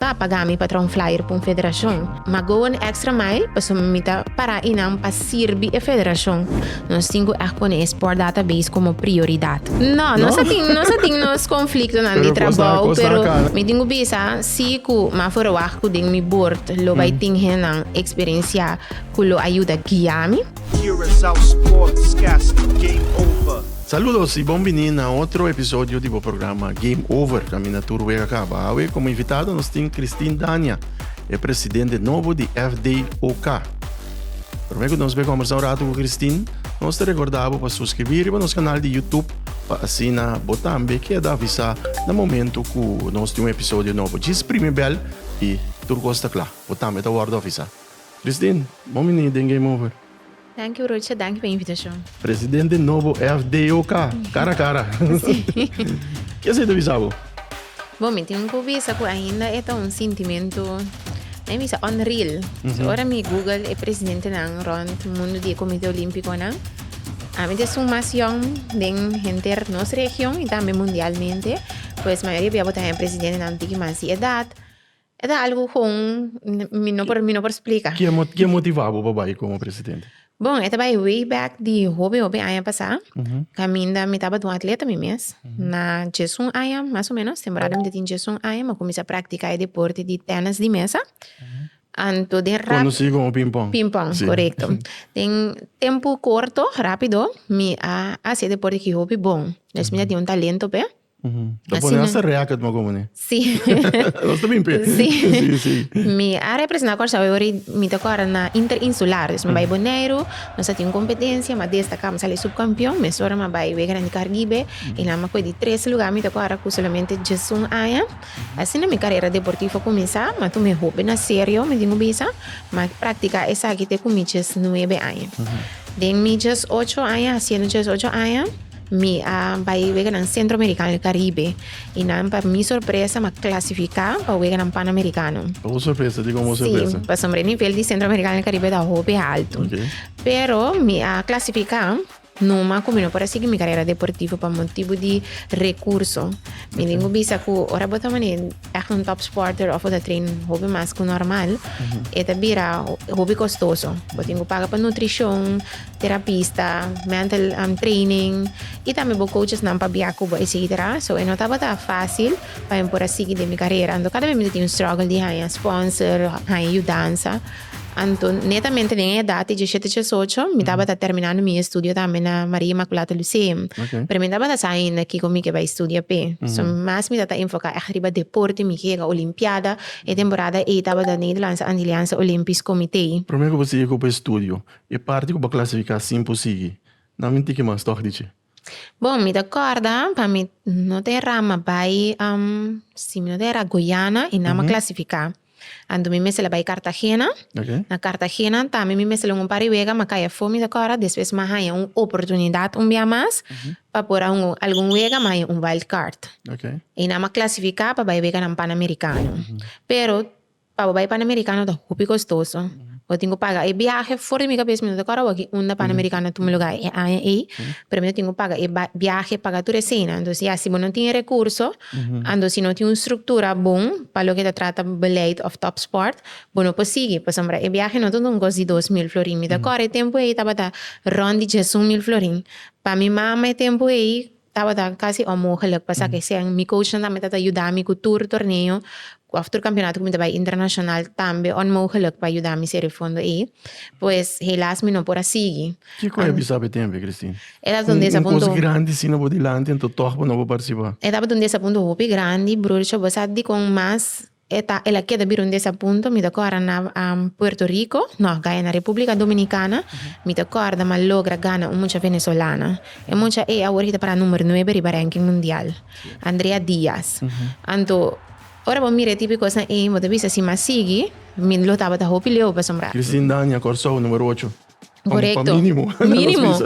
Ta paga mi pa traha un flyer pa un federacion, ma go an extra mile pasobra mi ta para i nan pa sirbi e federacion. Nos tin cu ect pone e sport database como prioridad. No, nos a tin nos a tin nos conflictonan di trabou, pero mi tin cu bisa si cu m'a for a wak cu den mi bord lo bay tin hennan experiencia cu lo a yuda guia mi. Curaçao Sportscast Game Over. Saludos y bon bini na otro episodio di bo programa Game Over, caminda tur wega caba. Awe como invitado nos tin Christine Dania, e presidente nobo di FDOK. Prome cu nos bai conversa un rato cu Christine, nos ta recorda bo pa suscribi riba nos canal di YouTube pa asina bo tambe keda avisa na momento cu nos tin un episodio nobo. Djis primi bel y tur cos ta cla. Bo tambe ta wordo avisa. Christine, bon bini den Game Over. Danki brocha, danki pa invitashon. Presidente nobo FDOK, kara kara. Ke esei ta bisa bo? Bo, mi tin ku bisa ku ainda e ta un sintimentu, mi bisa unreal. So ora mi google e presidentenan rònt mundu di e Komite Olímpikonan, ami ta esun mas yòn den henter nos region i tambe mundialmente. Pues mayoria di abo ta haya presidentenan tiki mas di edat. E ta algu con mi no por mi no por splica. Ke mo ke motiva bo pa bai como presidente? Bon, e ta bai way back di hopi hopi aña pasá, caminda mi tabata un atleta mi mes. Na djesun aña mas o menos, temporada mi ta tin djesun aña, mi a cuminsa practica e deporte di tennis di mesa. Anto den rap. Conoci como ping pong. Ping pong, correcto. Den tempo corto, rápido, mi a haci e deporte cu hopi bon. Despues mi a tin un talento p'e. Ta pone Asina. hasta racket mo como ne. Sí. Los te bimpe. Sí. Sí, sí. Mi a representa Curaçao e ori mi ta kora na interinsular. Dus mi bai Boneiru, nos a tin un competencia, mi a destaca, mi sali subcampeon, mes ora mi a bai wega den di Caribe, y nan mi a coge di tres lugar, mi ta kora cu solamente diesun aña. Asina mi carera deportivo a cuminsa, mi a tuma e hopi na serio, mi tin cu bisa, mi a practica esaki te cu mi diesnuebe aña. Den mi diesocho aña, haciendo diesocho aña, Mi a bai weganan Sentroamerikano i Karibe i nan pa mi sorpresa m'a klasifiká pa weganan Panamerikano. Pa bo sorpresa? Di kon bo sorpresa? Sí, pasobra e nivel di Sentroamerikano i Karibe ta hopi haltu. Oke. Pero mi a klasifiká numa ku mi no por a sigui mi karera deportivo pa motibu di rekurso. Mi tin ku bisa ku ora bo ta mane ègt un tòp spòrter òf bo ta train hopi mas ku normal e ta bira hopi kostoso. Bo tin ku paga pa nutrishon, terapista, mental um, training, y tambe bo coachesnan pa bia cu bo, etcetera. So e no tabata facil pa mi por a sigui den mi carrera. Anto cada vez mi ta tin un struggle di haya sponsor, haya yudansa. Anto netamente den e edad di 17, 18, mi tabata terminando mi estudio tambe na Maria Immaculata Lyceum. Okay. Pero mi tabata sa ainda kico mi ke bai studia pe. So mas mi tata enfoca echt riba deporte, mi hega olimpiada. E temporada ey tabata Nederlandse Antilliaanse Olympisch Comité. Prome cu bo sigui cu bo estudio, E parti ku bo a klasifiká sin por sigui, nan mi tiki mas tòg di dje. Bon, mi ta kòrda, pa mi no ta e ra mi a bai, si mi no ta era, Guyana i nan mi a klasifiká. Anto mi mester a bai Kartagena. Na Kartagena tambe mi mester lunga un par di wega, mi a kai afó, mi ta kòrda. Despues mi a haña un oportunidat un bia mas pa por a hunga algun wega, mi a haña un wild card. I nan mi a klasifiká pa bai e weganan Panamerikano. Pero. Pa bo bai Panamericano ta hopi costoso. Bo tin cu paga e biahe. For di mi cabes mi no ta cord awor ki unda Panamericano tuma lugar e aña ey, pero mi ta tin cu paga e biahe, paga tur e cena. Entonces ya si bo no tin e recurso, ando si no tin un structura bon pa loke ta trata beleid of top sport, bo no por sigui. Pasobra e biahe no ta un cos di dos mil florin. Mi ta cord e tempo ey tabata rond di diesun mil florin. Pa mi mama e tempo ey, Tabata casi onmogelijk pa sa kesen. Mi coachnan tambe ta ta yudami cu tur torneo of tur campeonato cu mi ta bay internacional tambe onmogelijk pa yudami sere fondo ey. Pues helaas mi no por a sigui. Kico a bisa bo e tempo ey Christine? E tabata un desapunto. Un cos grandi sina bo dilanti ento toch bo no por participa? E tabata un desapunto hopi grandi, broertje. Bo sa dicon mas E ta el a keda bira un desapunto, mi ta corda na Puerto Rico, no, gaya na Republica Dominicana, mi ta corda ma logra gana un mucha Venezolana. E mucha ei awor he ta para number nuebe riba ranking mundial, Andrea Diaz. Anto, ora bo mira e tipo di cosnan ei, bo ta bisa si mi a sigui, mi lo tabata hopi leu pasobra. Christine Dania, Corsou, numero ocho. Correcto. Pa mínimo. Mínimo.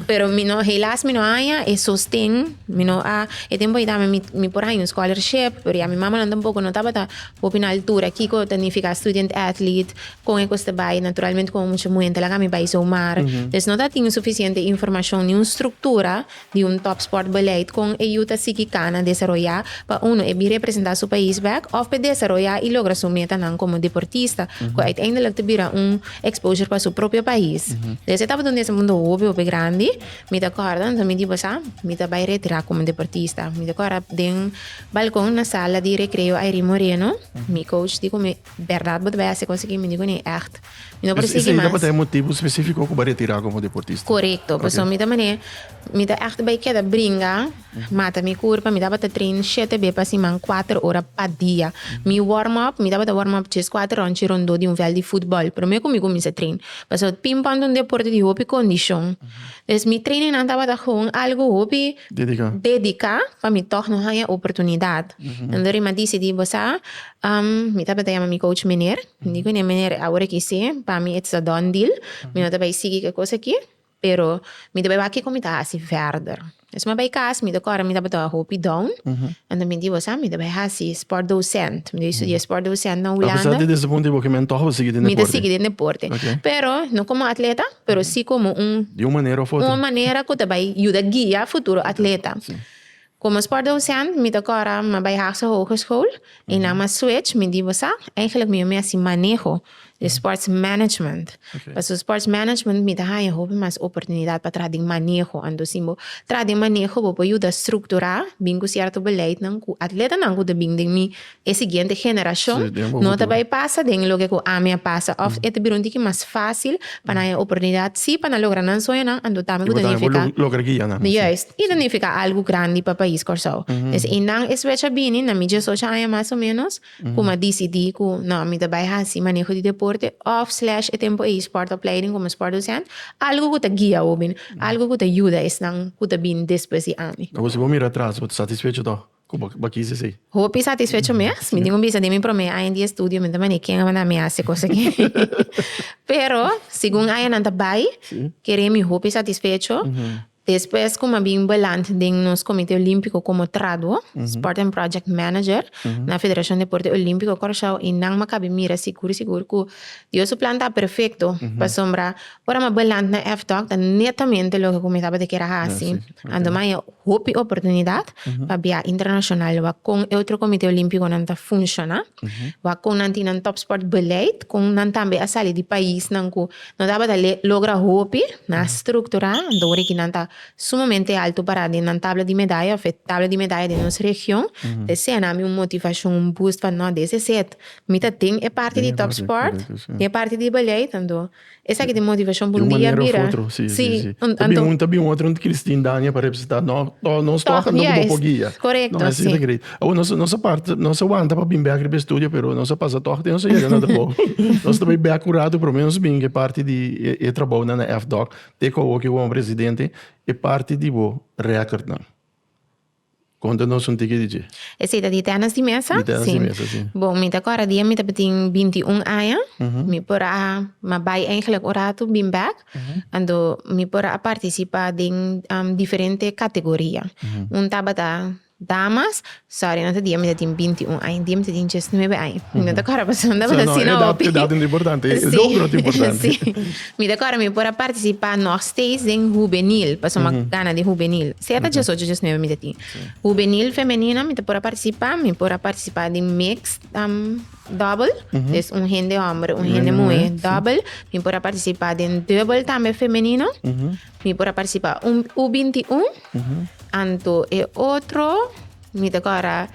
Pero mi no, helaas mi no haya e sosten. Mi no a, e tempo hita mi, mi, mi por haya un scholarship, pero ya mi mama nan tampoco no tabata hopi na altura. Kiko ta nifica student athlete, con e cos te bay, naturalmente con mucha muhente laga mi bay zomaar. Mm -hmm. Des no ta tin suficiente informacion ni un structura di un tòpspòrt beleid kon e yu ta sigui kana desaroyá pa unu e bin representá su pais bèk òf p'e desaroyá i logra su metanan komo deportista, ku uiteindelik ta bira un exposure pa su propio pais. Des e tabata un desapunto hopi hopi grandi. Mi ta kòrda anto mi diba sa mi ta bai retirá komo deportista. Mi ta kòrda den balkon na sala di Recreo Airin Moreno mi coach di ku mi, Bèrdat bo ta bai hasi kos aki? Mi di kuné, Ègt. Mi no por sigui mas. Esei ta por ta e motibu spesifiko ku bo a retirá komo deportista? Korekto. Pasobra mi ta manera, mi ta ègt bai keda bringa, mata mi kurpa. Mi tabata train shete be pa siman, kuater ora pa dia. Mi warm up, mi tabata warm up tres, kuater ròntchi rondó di un vèlt di futbòl. Pero me ku mi kuminsá train. Pasobra pimpòn ta un deporte di hopi kondishon. Entonces mi treinennan tabata gewoon algu hopi. Dediká. Dediká pa mi tòg no haña oportunidat. Anto ri mi a disidí, bo sa, mi tabata yama mi coach Meneer. Di ku ne manera, awor aki sí, pa mi it's a done deal, mi no ta bai sigui ke kos aki, pero mi ta bai wak kiko mi ta hasi verder. Despues mi a bai kas, mi ta kòrda mi tabata hopi down, anto mi di, bo sa, mi ta bai hasi sport docent, mi ta bai studia sport docent na Hulanda. Apesar di desapunta i bo kimen, tòg bo sigui den deporte? Mi ta sigui den deporte, pero no komo atleta, pero sí komo un. Di un manera òf otro. Un manera ku ta bai yuda guia futuro atleta. Como es por docent mi ta cora ma bay Haagse Hogeschool y nan ma switch mi di bo sa eigenlijk mi yo mi haci maneho di sports management pasobra sports management mi ta haya hopi mas oportunidad pa traha den maneho anto si bo traha den maneho bo por yuda structura bin cu cierto beleidnan cu atletanan cu ta bin den mi E siguiente generashon no ta bai pasa den loke ku ami a pasa òf e ta bira un tiki mas fásil pa nan e oportunidat sí pa nan logra nan sueñonan, anto tambe ku ta nifiká juist i ta nifiká algu grandi pa pais Kòrsou. Entonces i nan e swech a bini na mi diesocho aña mas o ménos ku mi a disidí ku nò mi ta bai hasi maneho di deporte òf slash e tempu ei spòrtopleiding komo spòrtdosent algu ku ta guia hopi, algu ku ta yuda esnan ku ta bini despues di ami. Akoba si bo mira atras bo ta satisfecho tòg? Como bo kiss esey? Hopi satisfecho mes. Mi tin un bisa di mi prome aña di estudio, mi ta mane ken a manda mi hasi cos aki. Pero, segun añanan ta bai, kere mi hopi satisfecho. Despues cu mi a bin beland den nos Comité Olímpico como tradw, Sport and Project Manager, na Federacion Deporte Olímpico Curaçao, y nan mi a kabe mira sigur sigur cu Dios su plan ta perfecto, pasobra Ora m'a beland na F-Talk ta netamente loke ku mi tabata kier a hasi. Anto m'a haña hopi oportunidat pa biaha internashonal. Wak kon e otro Komité Olímpikonan ta funshoná. Wak kon nan tin nan tòpspòrt beleid. Kon nan tambe a sali di paisnan ku no tabata logra hopi, nan a strukturá. Anto ora aki nan ta sumamente altu pará den nan tabla di medaya òf e tabla di medaya den nos region. Ta esei nan mi un motivashon, un boost pa nò, des es het. Mi ta den e parti di tòpspòrt, den e parti di beleid. Anto. Esaki ta e motivacion pa un dia bira. Si. Ta bin un, ta bin otro, no ta kiri stin daña pa representa no. Tog nos tog no bo por guia. Corecto, si. Awo nos nos a parti, nos a wanta pa bin bek riba e studio pero nos a pasa tog te nos a yega na trabou. Nos ta bay bek un rato pero menos bin e parti di e trabounan na FDOC te ku awo ku bo presidente e parti di bo recordnan. Konta nos un tiki di dje. Esei ta di Ternas di Mesa? Di Ternas di Mesa, si. Si. Bon, mi ta kòrda di ami tabatin binti i un aña. Mi por a ma bai eingèlèk un ratu, bin bèk. Anto mi por a partisipá den diferente kategoria. Un tabata damas, sòri, no ta di ami tatin binti i un aña, di ami tatin diesnuebe aña. Mi no ta kòrda pasobra mi tabata asina hopi. Edad no ta importante, logro ta importante. Si. Mi ta kòrda mi por a partisipá nòsteis den hubenil, pasobra mi a gana di hubenil. Sèta diesocho, diesnuebe mi ta tin. Hubenil femenino mi ta por a partisipá, mi por a partisipá di mixt, dòbel, des un hende hòmber, un hende muhé, dòbel. Mi por a partisipá den dùbel tambe femenino. Mi por a partisipá un U binti un. Anto e otro mi ta kòrda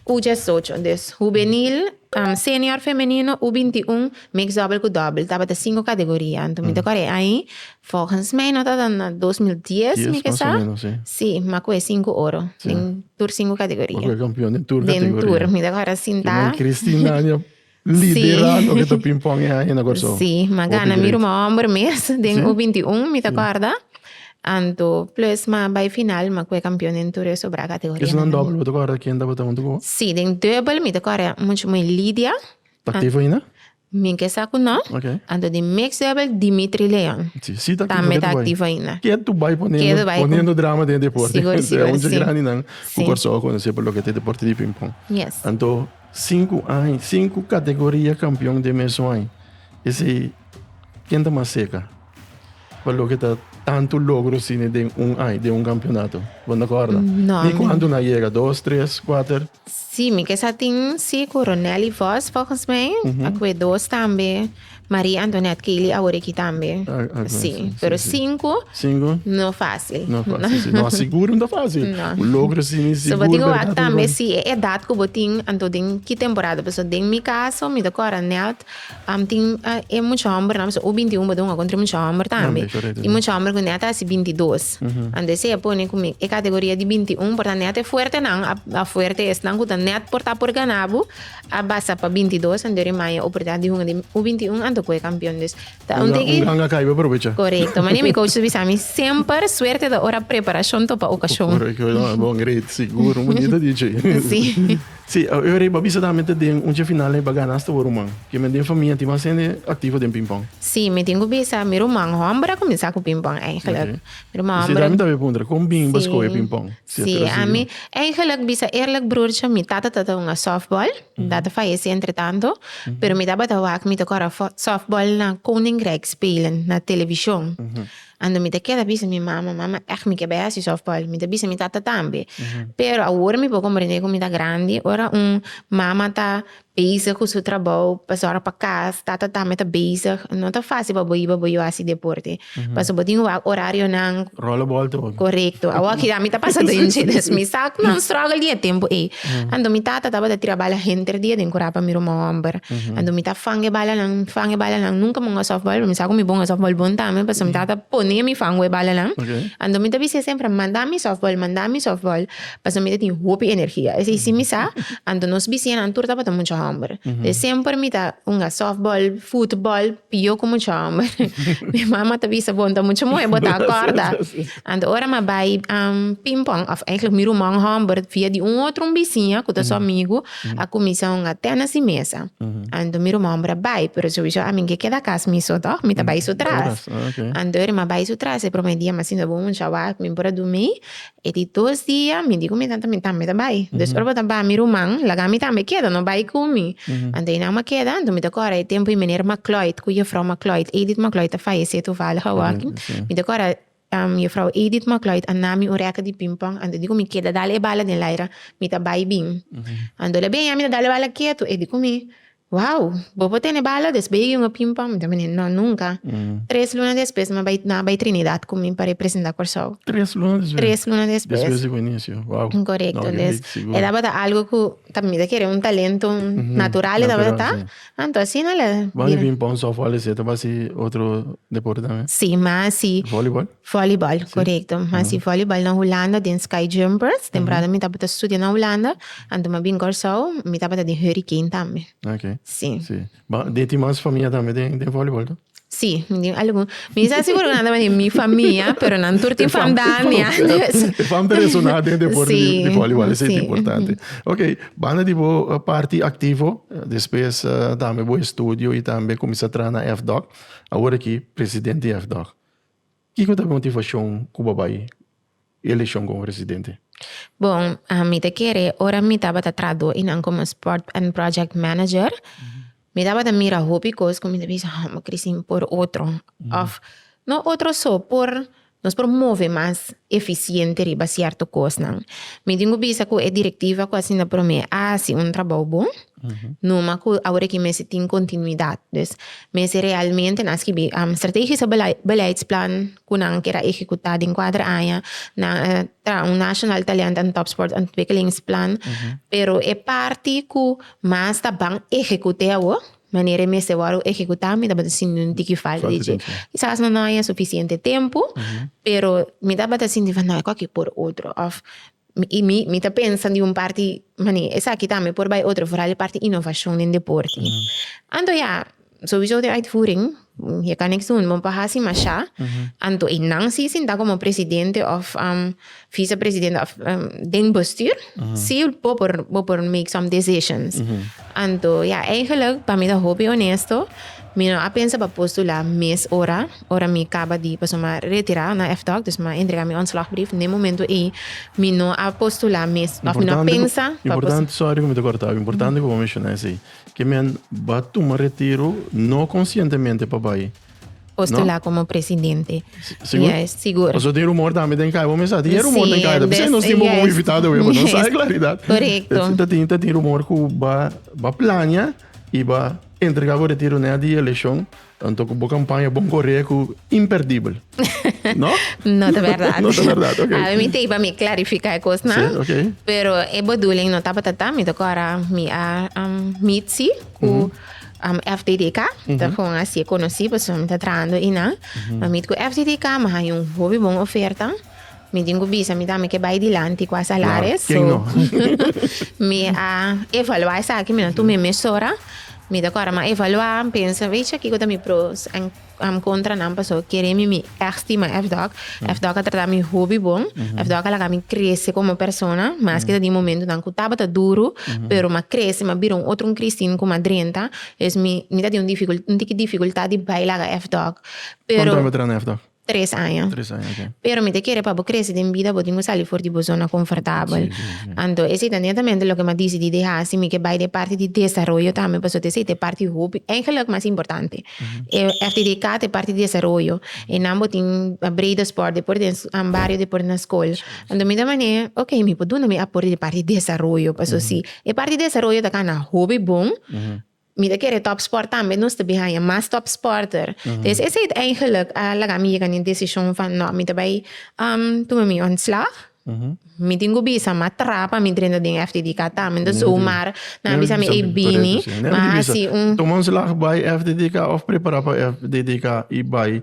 U diesocho. Des hubenil. Senior femenino U binti un, mix doubel ku doubel, tabata sinku kategoria. Anto mi ta kòrè ahi, volgens mij no tabata na dos mil dies mi ke sa, si, ma ku e sinku oro den tur sinku kategoria. Bo ku e kampion den tur kategoria. Den tur, mi ta kòrè asin ta. Kinan Christine Nania lidera loke ta pingpong ahi na Kòrsou. Si, ma gana mi ruma hòmber mes den U binti un mi ta kòrda. Anto plus ma bai final ma cu e campeon den tur e sobra categoria. Esnan dubbel bo ta corre ken tabata hunto cu bo? Si den dubbel mi ta corre mucho moe Lidia. Ta activo ainda? Mi ke sa cu no. Okay. Anto den mix dubbel Dimitri Leon. Si si ta activo ke tu bai. Tambe ta activo ainda. Ke tu bai poniendo drama den e deporte. Sigur sigur si. Esnan hunto grandi nan cu Corsou a conoce pa loke ta e deporte di ping pong. Yes. Anto cinco aña cinco categoria campeon den mesun aña esey ken ta mas seca? pa loke ta tanto logro sine den un ai, den un campeonato. Bon acorda? Mm, no, Ni cuando na llega dos, tres, cuatro. Sí, mi kesa tin sí coronel y vos, volgens mij. Mm -hmm. Akwe dos tambe. Maria Antoinette Kili Aworeki tambe. Ah, ah, sí. sí, pero sí, cinco, cinco, no fácil. No fácil, no. Sí. no seguro no fácil. No. Logro sí, ni seguro. So, digo, verdad, tambe sí, edad que botín, anto den, ki temporada, so, den mi caso, mi te corra net, Am tin e mucha homber nan, u binti un bo dun akontre mucha homber tambe. I mucha homber ku nèt hasi binti dos. Anto esei a pone ku mi e kategoria di binti un por ta nèt e fuerte nan, a fuerte esnan ku ta nèt por ta por gana bo, a basa pa binti dos anto e maya oportunidat di hunga den u binti un anto kohe kampion. Dus ta un tiki. Un ganga kai bo aprovecha. Korekto. Mane mi kouch su bisa mi semper suerte ta ora preparashon topa okashon. Korekto. Bon, great. Sigur. Un bonita DJ. Sí. Sí, e ora ei bo a bisa tambe ta den un chefinal ei bo a gana asta bo ruman. Ke men den famia tin mas hende aktivo den pingpong? Sí, mi tin ku bisa mi ruman hòmber a kuminsá ku pingpong eingelek. Mi ruman hòmber. Sí, ta mi tambe a puntra kon bini bo a skohe pingpong? Sí, ami eingelek bisa eerlek brurtje mi tata tabata hunga sòfbòl, mi tata fayesé entretanto, pero mi tabata wak mi ta kòrda sòfbòl na Koningrijk Spelen na televishon. Ando mi ta keda bisa mi mama, mama echt mi ke bai hasi softball, mi ta bisa mi tata tambe. Pero awor mi por komprende ku mi ta grandi, ora un mama ta bezig ku su trabou pa sòrg pa kas, tata tambe ta bezig, no ta fásil pa bo iba bo yu'a hasi deporte. Pasobra bo tin wak orarionan. Rollenbal ta unu. Korekto. Awor kida mi ta pasa den dje, mi sa nan struggle di e tempu ei. Ando mi tata tabata tira bala henter dia den kura pa mi ruma homber. Ando mi ta fang e balanan, fang e balanan. Nunka mi ung'a sòftbòl, mi sa ku mi bo ung'a sòftbòl bon tambe, pasobra mi tata pone mi fang e balanan. Ando mi ta bis'é semper, manda mi sòftbòl, manda mi sòftbòl, pasobra mi ta tin hopi energia. Esei si mi sa, ando nos bisinan tur tabata mucha homber. Entonces semper mi ta ung'a sòftbòl, futbòl, pio ku mucha homber. Mi mama ta bisa, bon ta mucha muhé, bo ta akòrda. Anto ora m'a bai pingpong, òf eigenlijk mi rumon hòmber, via di un otro un bisiña ku ta su amigu, a kuminsá un a tèna si mesa. Anto mi rumon hòmber a bai, pero souiso a mingé keda kas mi so tòg, mi ta bai su tras. Anto ora m'a bai su tras e promé dia m'asinti bo un mucha wak, mi por a durmi, e di dos dia mi di ku mi tata mi tambe ta bai. Dus ora bo ta bai mi ruman laga mi tambe keda, no bai ku mi. Anto einan m'a keda, anto mi ta kòrda e tempu di meneer Macloyd ku jefrou Macloyd, Edith Macloyd a fayesé tuvallig awor aki, mi ta kòrda Juffrouw Edith McLloyd a nami un reka di ping pong, anto e di cu mi keda dal e bala den laira, mi ta bai bin. Anto el a bini a mi ta dal e bala ketu, e di cu mi, Wow! Bo por tene bala des bay e yunga ping pong? Mi ta mende, No, nunca! Tres luna despues nan a bai Trinidad cu mi pa representa Corsou. Tres luna despues? Tres luna despues. Despues di cu inicio, wow! Corecto, des e tabata algo cu ta mi ta kere un talento natural e tabata ta. Anto asina la bira. Bo no bin pon so voli si e ta ba si otro deporte tambe? Si, mas si. Volleyball? Volleyball, korekto. Mas si volleyball na Hulanda den Sky Jumpers. Temporada mi tabata studia na Hulanda, anto mi a bin Kòrsou, mi tabata den Hurricane tambe. Ok. Si. Si. Bo tin mas famia tambe den volleyball, to? Sí, mi tin algun. Mi sa sigur ku nan ta bini mi famia, pero nan tur tin fam dami ante. E fam personal den deporte di, di bolibol esei ta importante. Ok, banda di bo parti aktivo, despues tambe bo estudio i tambe kuminsá traha na FDOC, awor aki presidente di FDOC. Kiko ta motivashon ku bo bai e elekshon komo presidente? Bon, mi ta kere ora mi tabata trahadó i nan komo sport and project manager, mi tabata mira hopi kos ku mi ta bisa ha bo krisín por otro òf no otro so por nos por move mas efisiente riba sierto kosnan. Mi tin ku bisa ku e direktiva ku asina promé a hasi un trabou bon. Numa cu awor aki mester tin continuidad. Dus mester realmente nan skibi strategische beleidsplan cu nan ker a ehecuta den kuater aña. Nan traha un national talent en topsport ontwikkelingsplan. Pero e parti cu mas ta ban ehecute awor, manera e mester wor ehecuta, mi tabata sinti un tiki falta di dje. Kisas no nos a haña suficiente tempo, pero mi tabata sinti van no, e kos aki por otro. Of I mi, mi ta pensa di un parti manera, esaki tambe por bai otro, vooral e parti innovacion den deporte. Anto ya, sowiso den uitvoering, je kan niks doen, bo paha si masha, anto e nan si sinta komo presidente of vicepresidente of den bestuur, si bo por, bo por make some decisions. Anto ya, eigenlijk, pa mi ta hopi honesto, mi no a pensa pa postula mes ora. ora mi kaba di paso mi a retirá na FDOC, dus mi a entregá mi ontslagbrief, den momento ei mi no a postulá mes òf mi no a pensa pa postulá. Sòri ku mi ta kòrtau. Importante ku bo menshoná esei, ke men ba tuma retiro no konsientemente pa bai, no? Postulá komo presidente. Sigur? Yes, sigur. Paso tin rumor tambe den kaya. Bo mester sa tin e rumor den kaya ta p'esei nos tin bo komo invitado awe, bo no sa e klaridat. Korekto. Ta tin ta tin rumor ku ba ba plania i ba entregá bo retiro neha di e eleshon Tanto cu bo campaña bon corre cu imperdibel. No? no te verdad. no te verdad, ok. A mi te iba mi clarifica e cos na. Sí, ok. Pero e bedoeling no tapa tata, mi te cora mi a um, mitsi cu mm -hmm. um, FDDK, mm -hmm. te gewoon así conocí, pues mi te trando y na. Mm -hmm. Maar mi cu FDDK, maar hay un hobby bon oferta. Mi tin cu bisa mi tambe ke bay dilanti cu a salares. Claro, so, mi a evalua esaki, mi na tumi mm. mesora. Mi ta cora, ma evalua, pensa, weet je, kiko ta mi pros en um, contra nan, paso kere mi mi estima FDOC. Mm. FDOC a trata mi hobby bon. Mm -hmm. FDOC a laga mi crece como persona, mas mm. que ta di momento nan cu tabata duro, mm -hmm. pero ma crece, ma bira un otro un Christine cu ma drenta. Es mi, mi ta di un dificult, un tiki dificultad di bay laga FDOC. Pero... Contra FDOC? Tres aña. Tres aña, ok. Pero mi ta kere pa bo krese den bida, bo tin ku sali for di bo zona konfortabel. Anto esei ta netamente loke mi a disidi di hasi, mi ke bai den e parti di desaroyo tambe, pasobra esei ta e parti hopi, eigenlijk mas importante. E FDDK ta e parti di desaroyo, e nan bo tin breda sport, depor den bario, depor na skol. Anto mi ta mane, ok, mi por duna mi aporte di parti di desaroyo, pasobra si e parti di desaroyo ta kana hopi bon, Mi ta kere topsport tambe, nos ta bin haña mas topsporter. Des esei ta eigenlijk a laga mi yega na e desishon van nò, mi ta bai tuma mi ontslag. Mi tin ku bisa mi a tra pa mi drenta den FDDK tambe. Nto su Omar nan a bisa mi, ei bini, mi a hasi un. Tuma ontslag bai FDDK of prepara pa FDDK i bai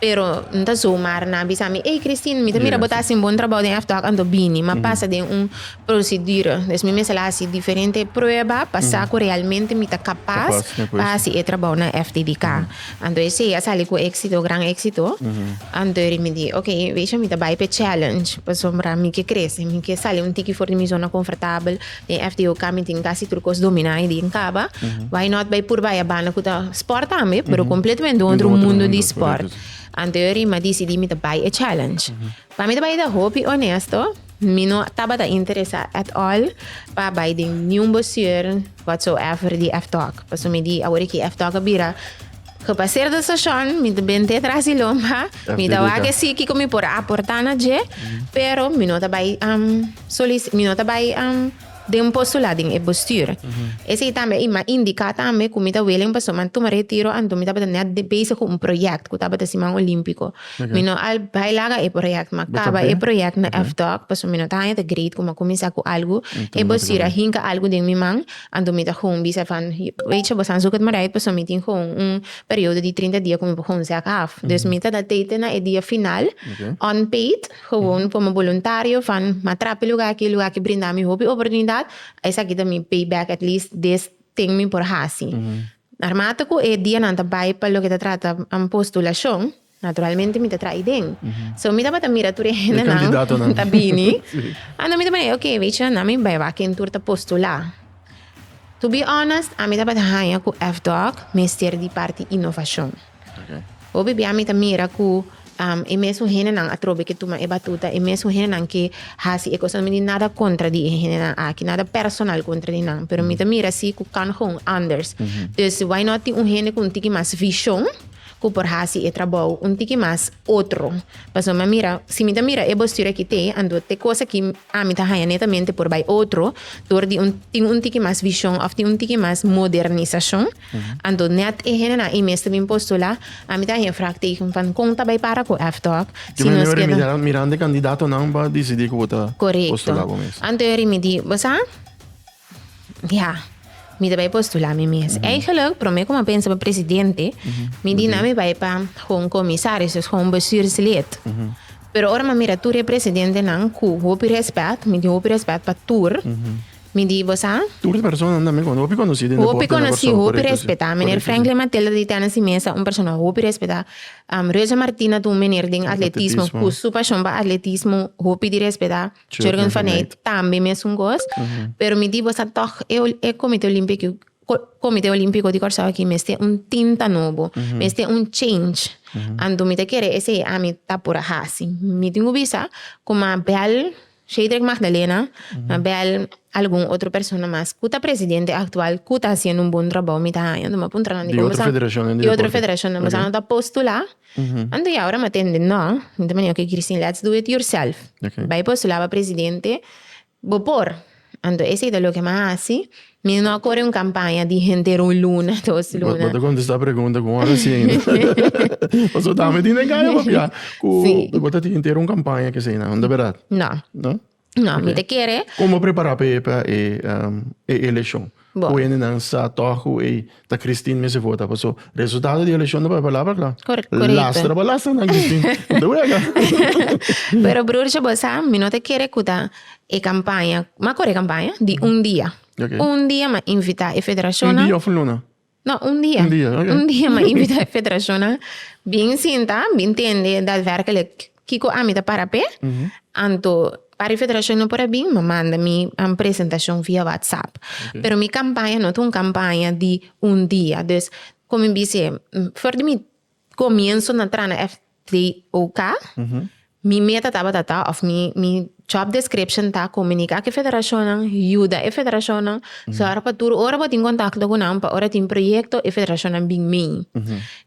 Pero N ta zomar na bisa mi, Ey Christine, mi ta mira bo ta hasi un bon trabou den F-Talk anto bini, ma pasa den un prosedura. Des mi mester la hasi diferente prueba pa sa cu realmente mi ta capas pa hasi e trabou na FTDK. Anto esey a sali cu exito, gran exito. Anto eri mi di, Ok, besha, mi ta bay p'e challenge, pasobra mi ke crece, mi ke sali un tiki for di mi zona confortabel, Den FDO ka mi tin casi tur cos dominá y di en caba. Why not bay purba e banda cu ta sport tambe, pero completamente otro mundo di mundo, sport. correcto, si. Anterior ri mi dici di mi ta bay e challenge. Pa mi ta bay ta hopi honesto, mi no tabata interesá at all pa bay den niun boseur whatsoever di F-Talk. Paso mi di awor e ki F-Talk a bira. Cu pa ser de sashon mi ta bent'é tras di lomba, mi ta wak esí kico mi por aportá na dje, pero mi no ta bai solici, mi no ta bai den postulá den e bestuur. Esei tambe i m'a indicá tambe cu mi ta willing pasobra mi a tuma retiro anto mi tabata net bezig cu un project cu tabata siman olímpico. Mi no a bai laga e project, m'a caba e project na FDOC pasobra mi no ta haña ta great cu m'a cuminsá cu algu, e bestuur a hinca algu den mi man. Anto mi ta gun bisa e van, Weetje, boso a zoek het maar uit, pasobra mi tin gewoon un periodo di trinta dia ku mi por gun sèk af. Dus mi ta da teken na e dia final, unpaid, gewoon como boluntario van ma trap e lugá aki, e lugá aki brinda mi hopi oportunidat, esaki ta mi pay back at least des tin mi por hasi. Armata ku e dianan ta bai pa loke ta trata postulashon, Naturalmente mi ta traha den. So mi tabata mira tur e hendenan ku ta bini. Anto mi ta manda e oke, bichi, nan mi bai wak ken tur ta postulá. To be honest, ami tabata haña ku FDOC mester di parti inovashon. Hopi bia mi ta mira ku e mesun hendenan atrobe ke tuma e batuta, e mesun hendenan ke hasi e kosnan. Mi no tin nada kontra di e hendenan aki, nada personal kontra di nan. Pero mi ta mira si ku kan hon anders. Dus why not tin un hende ku un tiki mas vishon. cu por haci e trabou un tiki mas otro. Pasobra mi a mira, si mi ta mira e bostur aki te, anto te cos aki ami ta haña netamente por bay otro, dor di un, tin un tiki mas vision of tin un tiki mas modernisacion. Anto net e hendenan y mes ta bin postola, ami ta haña vrak teken van con ta bay para cu F-Talk, si nos keda. Yo mira mira, mirando e candidatonan pa dicidi cu bo ta postola bo mes. Correcto. Anto yo rimidi, bo sa? Ya, mi ta bai postulá mi mes. Eigenlijk, promé ku mi a pensa pa presidente, mi di nan mi bai pa hopi un komisaris òf hopi un bestuurslid. Pero ora mi a mira tur e presidentenan ku hopi rèspèt, mi di hopi rèspèt pa tur, mi di bo sa, Tur e personanan tambe konosí, hopi konosí den deporte na Kòrsou. Hopi konosí, hopi rèspètá. Meneer Franklin Mathilda di tènen si mesa un persona hopi rèspètá. Rosa Martina ta un meneer den atletismo ku su pashon pa atletismo hopi di rèspètá. Children for Night tambe mesun cos. Pero mi di bosa toch e, e comité olímpico, comité olímpico di Curaçao aquí mester un tinta nobo, mester un change. Anto mi ta kere esei ami ta por a haci. Mi tin cu bisa cu mi a bel Shedrick Magdalena, mi a bel algun otro persona mas cu ta presidente actual cu ta haciendo un bon trabao mi ta haña, mi a puntra nan di como sa. Di otro federacionnan di deporte. Di otro federacionnan. Bosa no ta postula. Anto ya ora mi a tende, No, mi ta mania ku e Christine, let's do it yourself. Bai postulá pa presidente, bo por. Anto esei ta loke mi a hasi. Mi no a kore un kampaña di henter un luna, dos luna. Bo ta kontestá pregunta ku un ora siña. Pasobra tambe tin den kaya papia ku bo ta henter un kampaña ku eseinan, no ta berdad? No. No? No, mi te kere. Como prepara pe pa e um, e eleccion? Bo. Cu hende nan sa toch cu e ta Christine me se vota. Paso resultado di eleccion pa palabra kla. Cor- correcto. Lastra pa lastra nan Christine. De wega. Pero broertje, bo sa, mi no te kere cu ta e campaña, ma core campaña di un dia. Ok. Un dia ma invita e Un federacionnan. dia of un luna. No, un dia. Un dia, ok. Un dia m'a invitá e federashonnan bin sinta, bin tende daadvèrkelijk kiko ami ta para p'e. Anto para e federashon no por a bin, m'a manda mi an presentashon via whatsapp. Pero mi kampaña no ta un kampaña di un dia. Dus, ku mi bis'é, for di mi. Comienso na tra na FDOK mi meta tabata ta of mi mi job description ta comunica cu e federacionnan, yuda e federacionnan zorg pa tur ora bo tin contacto cu nan pa ora tin proyecto e federacionnan bin mey.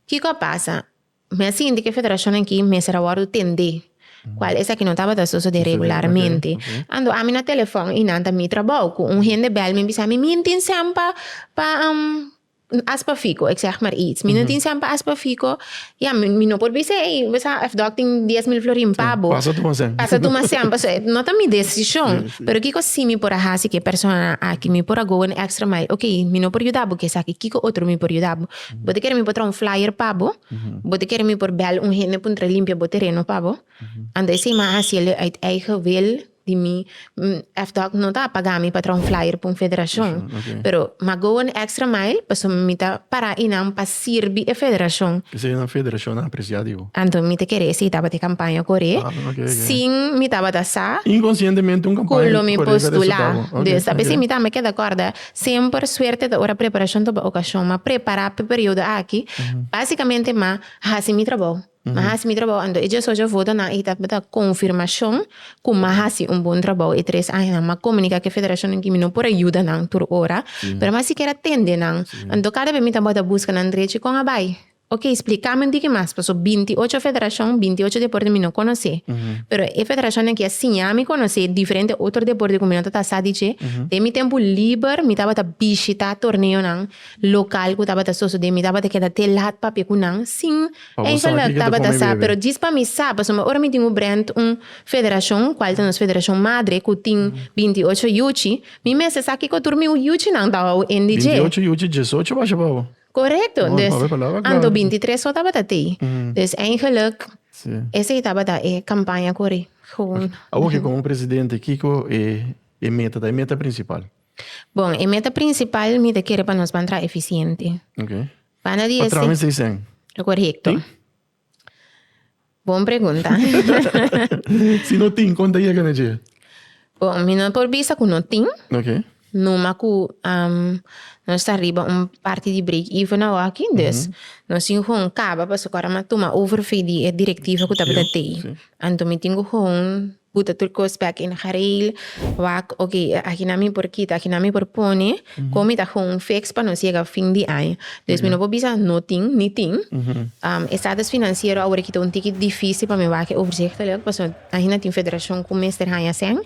Kico a pasa? Mi a sinti cu e federacionnan aki mester a wordo tende cual esaki no tabata sosode regularmente. Ando ami na telefon y nan ta mi trabou cu un hende bel mi bisa mi mi tin send pa pa Aspafiko, ik zeg maar iets. Mi no tin cent pa aspafiko, ja, mi no por bisé, ey, besa F. Doc tin dies mil florin pa bo. Pasa tuma cent. Pasa tuma cent, paso e no ta mi decision. Pero kiko si mi por a haci cu e persona aki? Mi por a go an extra mile. Ok, mi no por yuda bo cu esaki, kiko otro mi por yuda bo? Bo ta kere mi por traha un flyer pa bo? Bo ta kere mi por bel un hende pa un tra limpia bo tereno pa bo? Anta esey mi a haci el uit eigen wil, di mi F-doc no ta a paga mi pa traha un flyer pa un federashon pero m'a go un extra mile pasobra mi ta para einan pa sirbi e federashon. P'esei nan federashon a apresiá di bo. Anto mi ta kere si tabata e kampaña koré sin mi tabata sa ku lo mi postulá. Sa p'esei mi ta me keda kòrda semper suerte ta ora preparashon ta oba okashon. M'a prepará p'e periodo aki basikamente m'a hasi mi trabou. Mi a hasi mi trabou, anto e djes ocho votonan aki ta bata konfirmashon ku mi a hasi un bon trabou e tres añanan. Mi a komunika ku e federashon nan ku mi no por a yuda nan tur ora, pero mi a siker a tende nan. Anto kada bes mi ta bota buska nan drechi, kon a bai? Oke, splika mi un tiki mas, pasobra binti ocho federashon, binti ocho deporte mi no konosé, pero e federashonnan aki a siña mi konosé diferente otro deporte ku mi no tata sa di dje. Den mi tempu liber mi tabata bishitá torneonan lokal ku tabata sosodé, mi tabata keda te lat papia ku nan, sin Enkel lo tabata sa, pero djis pa mi sa, pasobra ora mi tin un brand, un federashon, kual ta nos federashon madre ku tin binti i ocho yuchi, mi mester sa kiko tur mi yuchinan ta hoendi dje. Binti i ocho yuchi djes ocho basha pa bo? Korekto, dus anto binti i tres so tabata te. Dus engeluk esei tabata e kampaña ku ri. Awor ke komo presidente kiko e meta ta, e meta prinsipal? Bon, e meta prinsipal mi ta kere pa nos ban traha efisiente. Pana di ese. Patrones dicen. Correcto. Tin? Bon pregunta. si no tin, con ta llega na dje? Bon, mi no por bisa cu no tin. Ok. Numa cu um, no sta riba un parti di break even na hockey, dus mm -hmm. no sin gewoon caba, paso cora ma tuma overvee di e directiva cu tabata tei. Anto mi tin cu gewoon Ku ta tur kos bek in gareel. Wak, ok, e aki nan mi por kita, aki nan mi por pone, kon mi ta home fix pa nos yega fin di aña. Dus mi no por bisa no tin, ni tin. Estatus finansiero a wòrdu kita un tiki difísil pa mi wak e overzichtelek, pasobra ahinda tin federashon ku mester haña sèn.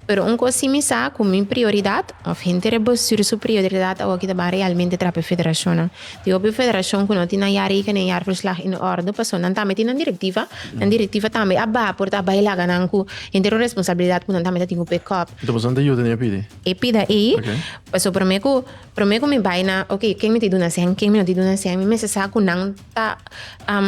Pero un cos si mi sa cu mi prioridad, of henter e bestuur su prioridad awoki ta ban realmente traha pa e federacionnan. Tin hopi federacion cu no tin nan jaarrekening den jaarverslag in orde, pasobra nan tambe tin nan directiva, nan directiva tambe a baha por ta bay laga nan cu henter un responsabilidad cu nan tambe ta tin cu backup. Enton pasobra nan ta yuda den e pidi? E pida ey, pasobra prome cu, prome cu mi bay na, ok, ken mi ta duna hacen, ken mi no ta duna hacen, mi mester sa cu nan ta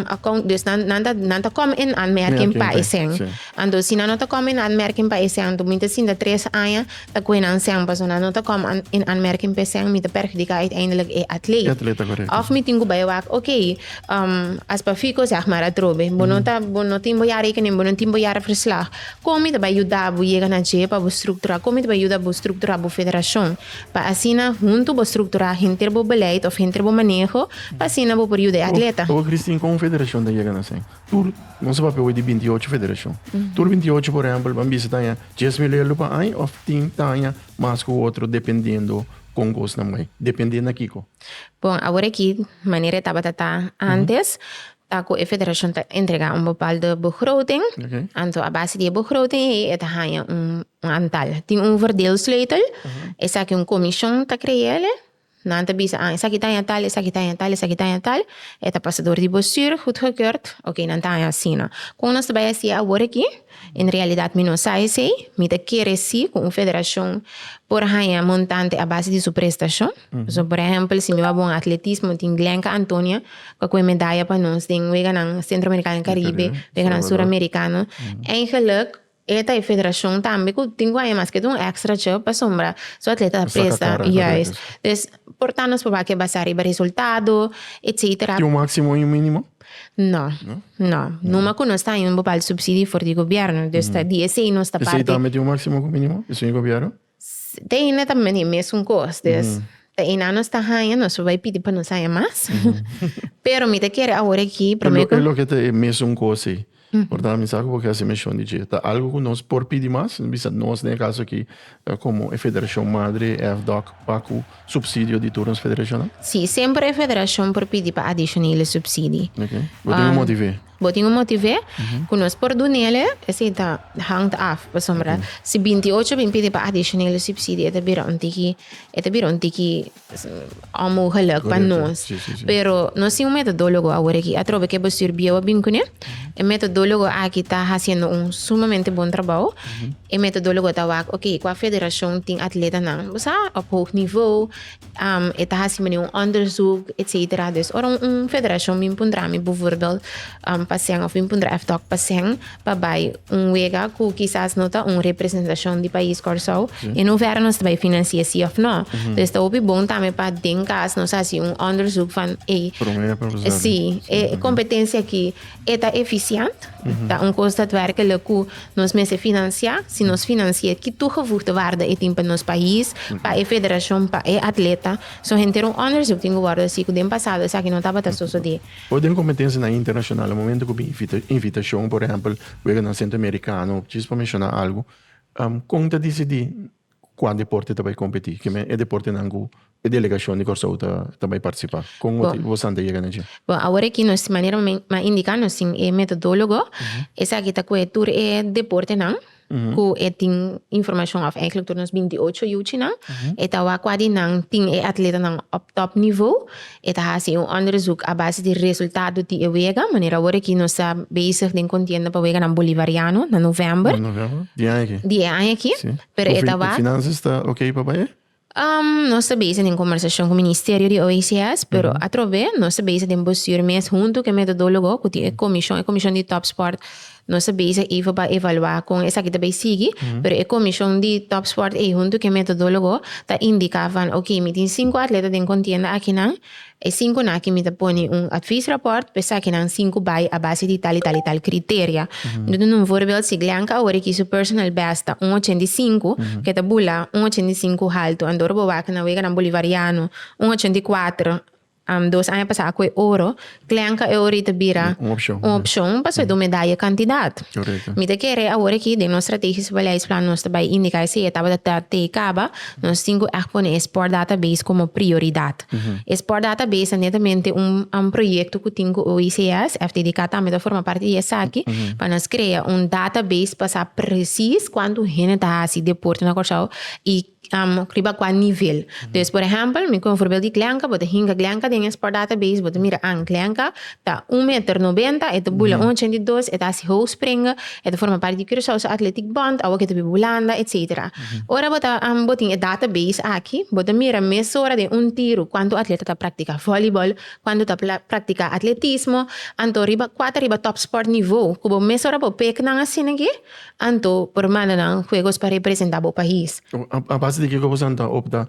account dus nan nan ta nan ta come in aanmerking pa esèn Sí. anto si nan no ta come in aanmerking pa esèn anto mi ta sinta tres aña ta coge nan sèn paso nan no ta come aan- in aanmerking pa esèn mi ta perjudica uiteindelijk e atleet E atleta, correcto. of mi tin cu bay a wak ok as pa fico zeg maar atrobe bo no ta bo no tin bo jaar rekening bo no tin bo jaar verslag con mi ta bay yuda bo yega na dje pa bo structura con mi ta bay yuda bo structura bo federacion pa asina huntu bo strukturá henter bo beleid òf henter bo maneho pa asina bo por yuda e atleta. Oca Christine kon federashon ta yega na Seng? Tur nan sa papia hui di binti ocho federashon. Tur binti ocho por ehèmpel ban bisa taña dies mil elu pa aña òf tin taña mas ku otro dependendo kon kosnan bai. Depende na kiko? Bon, awor aki manera e tabata ta antes, ta cu e federacion ta entrega un bepaalde begroting, anto a base di e begroting ey e ta haya un antal. Tin un verdeelsleutel, esaki un comision ta cree'le, nan ta bisa, ah, esaki ta haya tal, esaki ta haya tal, esaki ta haya tal, e ta pasa door di bestuur, goedgekeurd, ok, nan ta haya asina. Con nos ta bay haci awor aki? En realidat mi no sa esei. Mi ta kere si ku un federashon por haña montante a base di su prestashon. So, por ehèmpel, si mi wou bon atletismo, tin Glenka Antonia ku a kohe medaya pa nos den Weganan Sentroamerikano i Karibe, Weganan Suramerikano. Eigenlik e ta e federashon tambe ku tin ku haña mas ketu un èkstrachi pasobra su atleta ta presta. Juist. Por ta nos papá ke basá riba resultado, etcetera. Tin un máksimo i un mínimo? No, no. Numa ku nos ta haña un bepaldu supsidio for di gobièrnu. Dus ta di esei nos ta parti. Esei tambe tin un máksimo ku mínimo? Esei e gobièrnu? Te hende ta mene e mesun kos. Dus, ta einan nos ta haña, nos por bai pidi pa nos haña mas. Pero mi ta kere awor aki promé ku. E loke ta e mesun kos ei? Por tanto, mi sa cu bo kier haci menshon di dje. Ta algo cu nos por pidi mas, mi bisa nos den e caso aki, ta como e federacion madre, e FDOC, pacu subsidio di tur nos federacionnan? Si, semper e federacion por pidi pa adicionele subsidi. Ok. Bo tin un motivé? Bo tin un motivé cu nos por dunele, esey ta hangt af, pasobra si binti ocho bin pidi pa adicionele subsidi e ta bira un tiki, e ta bira un tiki Es un omo geluk pa nos. Pero nos tin un metodologo awor aki. Atrobe ke bestuur bieu a bin kuné. E metodologo aki ta haciendo un sumamente bon trabao. E metodologo ta wak, ok, kua federashon tin atletanan, bo sa, op hoog nivou, e ta haci mene un onderzoek, etcetera. Dus ora un federashon bin puntra mi, bivurbeeld. Paseng of bin puntra F-Doc Paseng pa bai un wega ku kisas no ta un representashon di pais Kòrsou i no wèra nos ta bai finansié si òf no. Entonces ta hopi bon tambe pa den kas nos hasi un òndersuk van ey, si e kompetensia aki e ta efisiènt, ta un kos datwerklik ku nos mester finansiá, si nos finansié ki tugevoegde waarde e tin pa nos pais, pa e federashon, pa e atleta. So henter un òndersuk tin ku wòrdu hasi ku den pasado esaki no tabata sosodé. Ora den kompetensianan internashonal, momentu ku bin invitashon, por ehèmpel, weganan sentroamerikano, djis pa menshona algu, kon ta disidí kua deporte ta bai kompetí? Ke men e deportenan ku e delegashon di Kòrsou ta bai partisipá? Kon motibu bosan ta yega na dje? Bon, awor aki nos, manera mi a indiká nos sin e metodólogo, esaki ta kohe tur e deportenan. ku e tin informashon òf èiklèk tur nos binti ocho yuchinan, e ta wak kua di nan tin e atletanan òf tòp nivo, e ta hasi un ònderzuk a base di resultado di e wega, manera awor aki nos ta bezig den kontienda pa weganan bolivariano na novèmber. Na novèmber di aña aki. Di e aña aki, pero e ta wak. Ku finansias ta okey pa bai? Um, nos ta bezig den conversashon cu Ministerio di OECS, pero atrobe nos ta bezig den bestuur mes hunto cu e metodologo cu tin e comishon, e comishon di Topsport nos ta bezig even pa evalua con esaki ta bay sigui, pero e comishon di Topsport ey hunto cu e metodologo ta indica van ok mi tin cinco atleta den contienda akinan, E sinku naki mi ta pone un advies rapport pa esaki nan sinku bai a base di tal y tal y tal criteria. Mi ta duna un voorbeeld, si Glenka awor e kiso personal best ta un ochenta y sinku, ke ta bula un ochenta y sinku haltu. Anto ora bo wak na weganan Bolivariano, un ochenta y kuater, dos aña pasa a koe oro, Glenka e ora y ta bira un opcion pasobra e ta un medaya cantidad. Mi ta kere awor aki den nos strategisch beleidsplan nos ta bai indica esei etapa ta tei caba, nos tin cu echt pone e sport database como prioridad. E sport data base ta netamente un un proyecto cu tin cu OICS, FTDK tambe ta forma parti di esaki, pa nos crea un data base pa sa precies cuanto hende ta haci deporte na Curaçao y riba cua nivel. Dus por ehempel, mi cu un voorbeeld di Glenka, bo ta hinca Glenka den e sport data base, bo ta mira, ah, Glenka Ta un meter nobenta, e ta bula un ochenta i dos, e ta hasi hou spring, e ta forma parti di Curaçao su Athletic Bond, awo ke ta biba Hulanda, etc. Ora bo ta bo tin e database aki, bo ta mira mesora den un tiro kuantu atleta ta praktika vòlibòl, kuantu ta praktika atletismo, anto riba kuater riba top sport nivo ku bo mesora bo pek nan asina ke, anto por manda nan huegos pa representa bo pais. A base di kiko bo sa ta opta?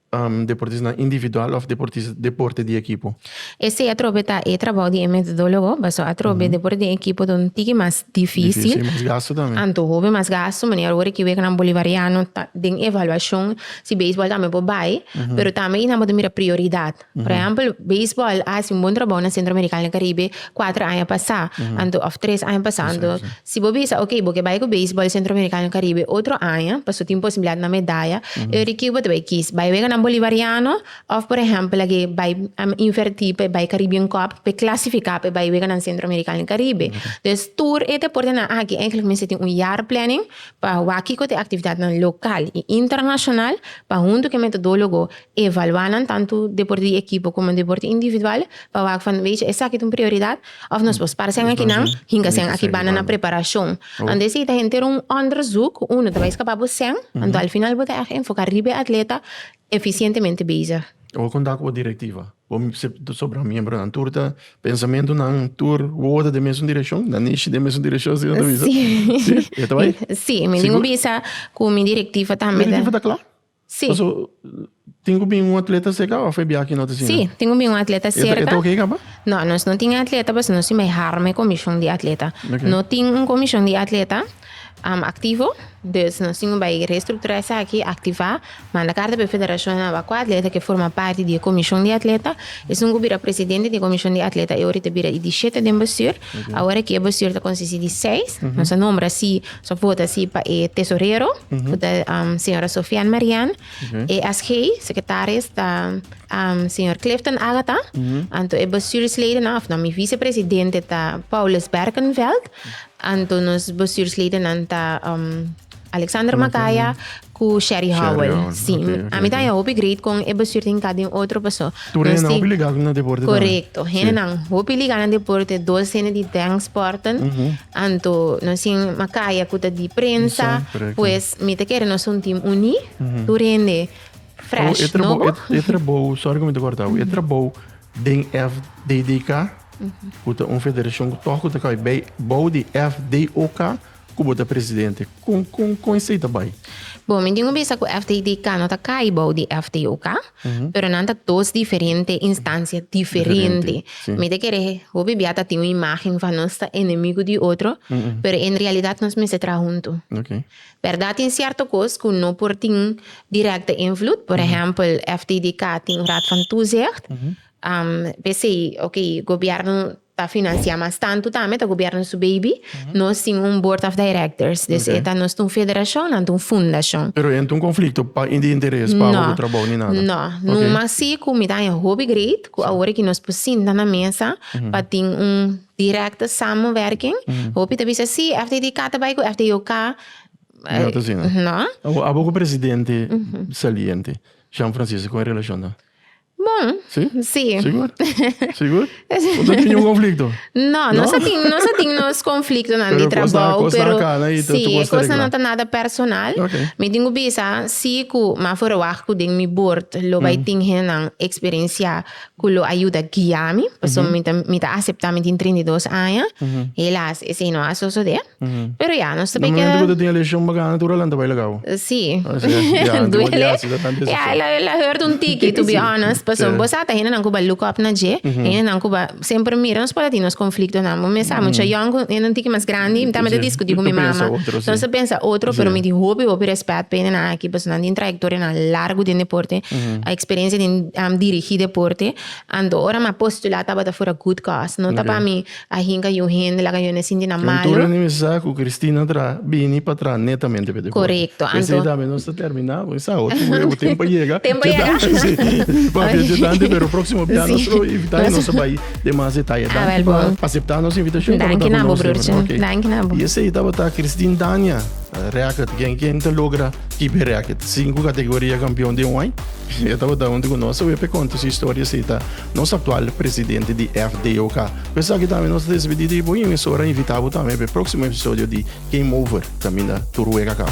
Deportistanan individual òf deporte di ekipo. Esei atrobe ta e trabou di e metodólogo, basá atrobe deporte di ekipo ta un tiki mas difísil. Difísil i mas gastu tambe. Anto hopi mas gastu, manera awor e kiwekenan bolivariano ta den evaluashon si beisbòl tambe por bai, pero tambe nan por ta mira prioridat. Por ehèmpel, beisbòl a hasi un bon trabou na Sentro Amerikano i Karibe. Kuater aña pasá anto òf tres aña pasá anto. Si bo bisa oke bo ke bai ku beisbòl sentroamerikano i karibe otro aña paso tin posibilidat na medaya e ora kiu bo ta bai kis? Bai wega nan bolivariano òf por ehèmpel agi bai invertí pa e bai karibian kòp pa e klasifiká pa e bai wega nan sentroamerikano i karibe? Des tur e deportenan aki èinklik mester tin un yar plènin pa wak kiko ta e aktividatnan lokal i internashonal pa huntu ku e metodólogo Evaluá nan tantu depor di ekipo komo depor di individual pa wak fo wecha esaki ta un prioridad òf nos por spar sèn akinan hinka sèn akibanda na preparashon. Anto si ta henter un ònderzuk unu ta bai skapá bo sèn, anto al final bo ta èg enfoká riba e atleta efisientemente bezig. Bo konta ku bo direktiva, bo sobra miembronan tur ta pensamentunan tur wowo ta den mesun direkshon? Nan nishi den mesun direkshon si nan ta bisa? Si. Si? E ta bai? Si, mi tin ku bisa ku mi direktiva tambe ta. Mi direktiva ta kla. Sí. Paso, tin ku bin un atleta serka òf e biaha ki no ta asina? Sí, tin ku bin un atleta E ta- e serka. ta oké kaba? No, nos no tin e atleta paso nos tin bai harma e komishon di atleta. Oké. No tin un komishon di atleta am, aktivo, dus nos tin ku bai restrukturá esaki, aktivá, manda karta pa e federashon a wak kua atleta ke forma parti di e komishon di atleta. Esun ku bira presidente di e komishon di atleta e ora i ta bira i di shete den bestür. Awor aki e bestuur ta konsisti di seis. Nos a nombra así, nos a vota así pa e tesorero, ku ta señora Sofian Marian. E SG, sekretaris, ta señor Clifton Agatha. Anto e bestuursledennan, òf no, mi visepresidente ta Paulus Berkenveld. Anto nos bestuursledennan ta. Alexander Macaya ku Sherry Howell. Si, ami ta haña hopi great kon e bestuur tin ka den otro paso. Tur hende hopi ligá na deporte tambe. Korekto. Hende nan hopi ligá na deporte, dos hende di den sporten. Anto nos tin Macaya ku ta di prensa, pues mi ta kere nos un tim uní, tur hende fresh, nobo. E trabou, sòri ku mi ta kòrtau, e trabou den FDDK, ku ta un federashon ku tòg ku ta kòrda bou di FDOK, Ku bo ta presidente, kon kon kon esei ta bai? Bon, mi tin ku bisa ku FTTK no ta kai bou di FTOK, pero nan ta dos diferente instansia diferente. Mi ta kere hopi bia ta tin un imágen van nos ta enemigu di otro, pero en realidat nos mester traha huntu. Bèrdat tin sierto kos ku no por tin direkte invloed, por ehèmpel FTTK tin raad van toezicht, p'esei, oké, gobièrnu ta financia mas tanto tambe ta gobierno su baby nos tin un board of directors des e ta nos ta un federacion nan ta un fundacion. Pero enta un conflicto pa in di interes pa abo cu trabao ni nada? No no mas si cu mi ta haña hopi great cu awor e ki nos por sinta na mesa pa tin un directe samenwerking hopi ta bisa si FTTK ta bay cu FTOK no. Abo cu presidente saliente Jean Francisco cu e relacion ta? Bon, Sí? sí. Sigur? Sigur? O ta tin un konflikto? No, No? nos a tin, nos a tin nos conflictonan Pero di cosnan- trabou, cosnan pero cana y ta sí, suposto e cosnan regla. no ta nada personal. Ok. Mi tin cu bisa, si cu m'a verwacht cu den mi bord lo bay tin hendenan experiencia cu lo a yuda guia mi, pasobra mi ta, mi ta acepta mi tin treinta i dos aña, helaas, esey no a sosode. Pero ya, nos ta bay keda... Normalmente cu ta tin e lesion bacana tur a lanta bay lagao. Si. Ya, anto di así ta tanta decepcion. Ya, el a hurt un tiki, to be honest. Pasobra bo sa ta hendenan cu bay look up na dje, hendenan cu bai semper mira. Nos por a tin nos conflictonan. Bo mes sa, mucha yòn cu hende un tiki mas grandi, mi ta mete discuti cu mi mama. Mi ta pensa otro, si. Nos ta pensa otro, pero mi tin hopi, hopi respect pa hendenan aki, pasobra nan tin trayectorianan largu den deporte, experiencia den dirigi deporte. Anto ora mi a postula tabata for a good cause. No ta pa mi. A hinga yu hende laga yones sinti nan malo. Tur reunin sa cu Cristina tra bini pa tra netamente pe deporte. Corecto. Anto. P'esei tambe nos ta termina bo. Sa otro wea bo tempo a yega. Tempo a yega. Si. Papia djentante pero proximo bia nos lo invita y nos ta bai den mas detaye. Danki. Awel bo. Pa acepta nos invitacion. Danki na bo brotje. Ok. Danki na bo. Y esei tabata Christine Dania Reacket. Gen gen ta logra kipe reacket. Cinco categoria campeon den un ai. E tabata hunto cu nos. Sa wea p'e conta su historia esei ta. Nos aktual presidente di FDOK. Ku esaki tambe nos ta despedí di bo i un esora invitá bo tambe pa e próksimo episodio di Game Over kaminda tur wega kaba.